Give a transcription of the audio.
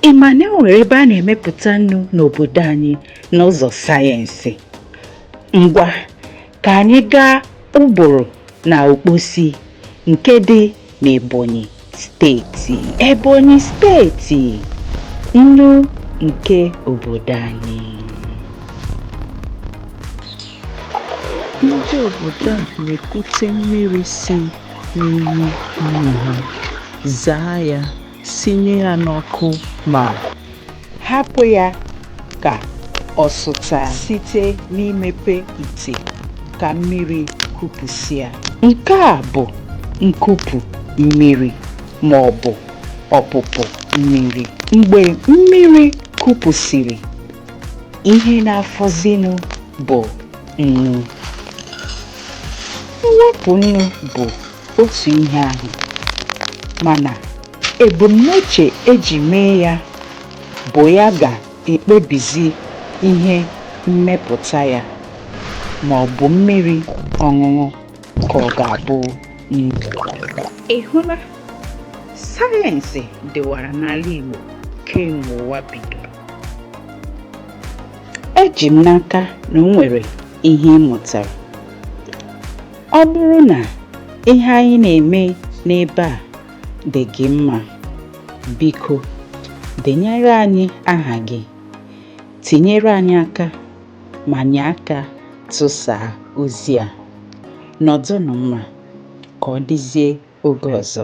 ị ma na e nwere ebe a na-emepụta nnu n'obodo anyị n'ụzọ sayensị ngwa ka anyị gaa uburu na okposi nke dị n'ebonyi steeti Ebonyi steeti nnu nke obodo anyị ndị obodo a na-ekute mmiri si n'iyi nnu ha zaa ya sinye ya n'ọkụ ma Hapụ ya ka ọ sụtaa site n'imepe ite ka mmiri kupụsịa. Nke a bụ nkupụ mmiri ma ọ bụ ọpụpụ mmiri. Mgbe mmiri kupụsịrị, ihe na-afọzinụ bụ nnu. Mwepụ nnu bụ otu ihe ahụ mana ebumnuche eji mee ya bụ ya ga-ekpebizi ihe mmepụta ya ma ọ bụ mmiri ọṅụṅụ ka ọ ga-abụ nnu. Ị hụla, sayensị dịwara n'ala Igbo kemgbe ụwa bidoro. Eji m n'aka na o nwere ihe ị mụtara. ọ bụrụ na ihe anyị na-eme n'ebe a dị gị mma biko denyere anyị aha gị tinyere anyị aka ma nye aka tụsaa ozi a nọdụnụ mma ka ọ dịzie oge ọzọ